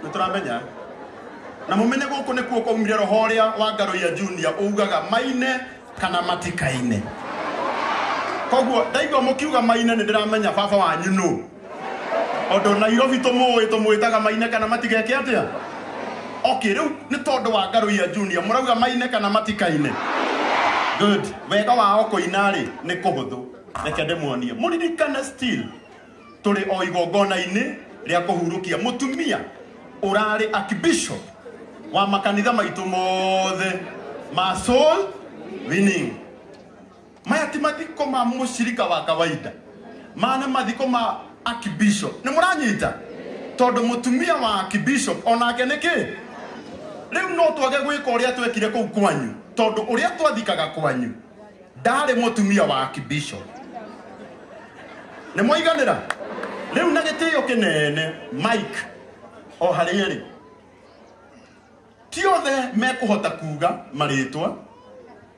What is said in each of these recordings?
nituramenya na mumenye guku nikuo kwaumire roho uria wa ngaruia junior ugaga maine kana matikaine koguo ndaigua mukiuga maine nindiramenya baba wanyu nu Ondo Nairobi tumuwi tumwitaga maine kana matigeke atia? Okay, riu ni tondu wa Ngaruia Junior murauga maine kana matikaine. Good. Wega wao kuina ri ni kuhuthu. Reke ndimuonie. Muririkane still turi o igongona-ini ria kuhurukia mutumia urari archbishop wa makanitha maitu mothe ma soul winning maya ti mathiko ma mũcirika wa kawaida maya nĩ mathiko ma archbishop nĩ mũranyita tondũ mũtumia wa archbishop onake nĩ kĩ rĩu no twage gwĩka ũrĩa twekire kũu kwanyu tondũ ũrĩa twathikaga kwanyu ndarĩ mũtumia wa archbishop nĩ mwaiganĩra rĩu na gĩtĩo kĩnene mike o harĩa rĩ ti othe mekũhota kuga marĩtwa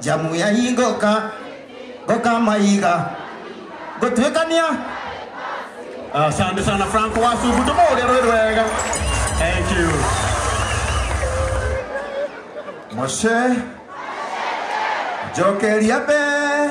njamu ya ingũka ngũka maiga ngũtuĩkania Asante sana Franco Wasugu, tumuhurire rwĩ rwega. Thank you. Moshe njokeria mbere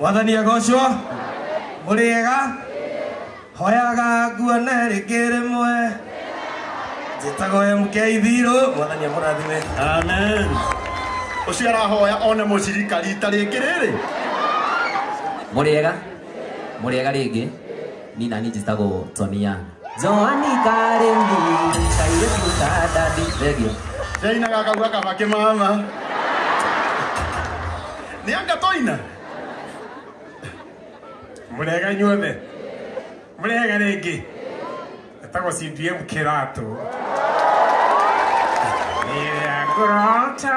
mwathani agocwo mũrĩega hoyaga nguone rĩngĩ rĩmwe njĩtagwo mk thirũ mwathani amũrathime amen ũcio arahoya one mũcirika rita rĩngĩ rĩrĩ mũrĩega mũrĩega rĩngĩ nina ninjĩtagwo toni yang Johani Karembi, Kairetu Kadadi, Regio. Jaina gakagua kabake mama. Nĩ anga toina. Mũrega inyuothe. Mũrega rĩngĩ. Etagwo CDM kĩratũ. Nĩ rĩa ngũrota.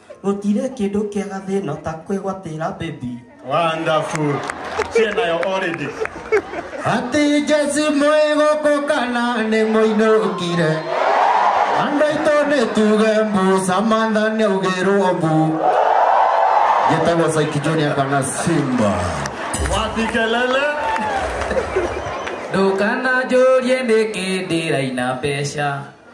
gutire kindu kiega thino ta kwigwatira baby wonderful cie nayo already ati jesi mwiguku kana ni muinukire andu aitu ni tuge mbu samantha ni ugirwo mbu gitagwo saiki junior kana simba wapi kelele ndũkananjũrie nĩkĩ ndĩraina mbeca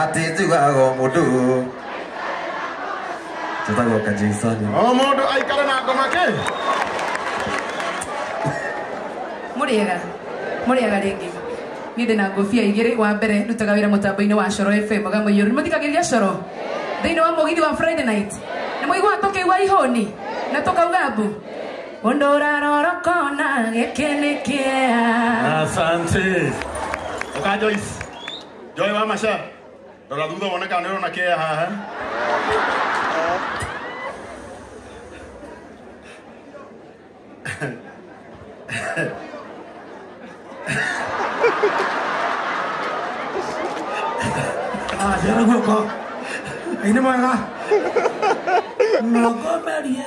ati njugaga o mundu njĩtagwo kajaisoni o mũndũ aikare na ngoma kĩ mũrĩega mũrĩega rĩngĩ niĩ ndĩ na ngũbia igĩrĩ wa mbere ndutaga wĩra mũtambo-inĩ wa coro fm mũgamũiyũru nĩmũthikagĩrĩria coro thĩinĩ wa mũgithi wa friday night nĩmũiguaga tũkĩigua ihũni na tũkauga mbu Mũndũ ũrarorokona gĩkĩ nĩ kĩea. Asante. Ũka Joyce. Joy wa Masha. Rora thutha wone kana nĩũrona kĩea haha. Ah, njĩra guoko. Ngai nĩ mwega. Nogomerie.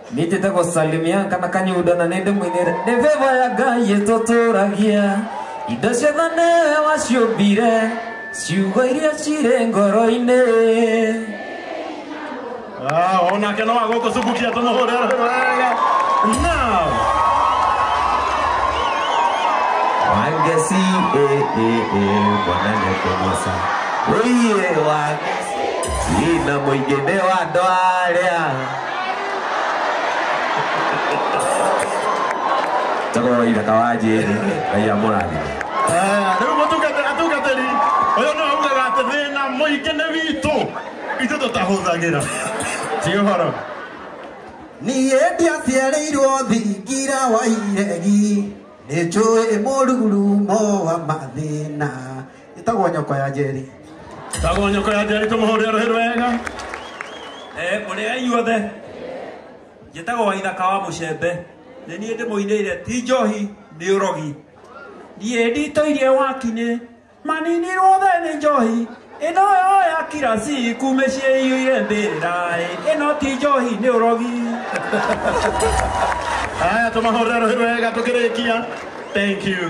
nitite gũsalimia kana kanyuda na nĩndĩ mwinĩre nĩ veva ya ngai ĩtũtũragia indo ciothe nĩwe waciũmbire ciugo iria cirĩ ngoro-inĩ Ah, onake no agũkũ cubukia tũmũhũre wega now wangeci bwana nĩkũmoca ũiye wangeci na mũingĩ nĩ wa andũ arĩa Njagoro ithaka wa njĩri ngai amũrathime Eh, rĩu mũtungate atungatĩri ũyũ nĩ waugaga atĩ thĩna mũingĩ nĩ witũ itũ tũtahũthagĩra ti ũhoro niä ndiaciarĩirwo thingira wa iregi nä njå ä må ruru mo wa mathä na ĩtagwo nyoko ya njeri tagwo nyoko ya njeri tũmũhũrĩre rũhĩ rwega Eh, mũrĩ a inyuothe njĩtagwo waithaka wa mũcembe nĩ niĩ ndĩmũinĩire ti njohi nĩ ũrogi niĩ nditũirie wakinĩ maninirwo the nĩ njohi ĩno yo ya kirasi kumĩciĩ iyũire mbĩrĩra ĩno ti njohi nĩ ũrogi haya tũmahũrĩre rũhĩ rwega tũkĩrĩkia thank you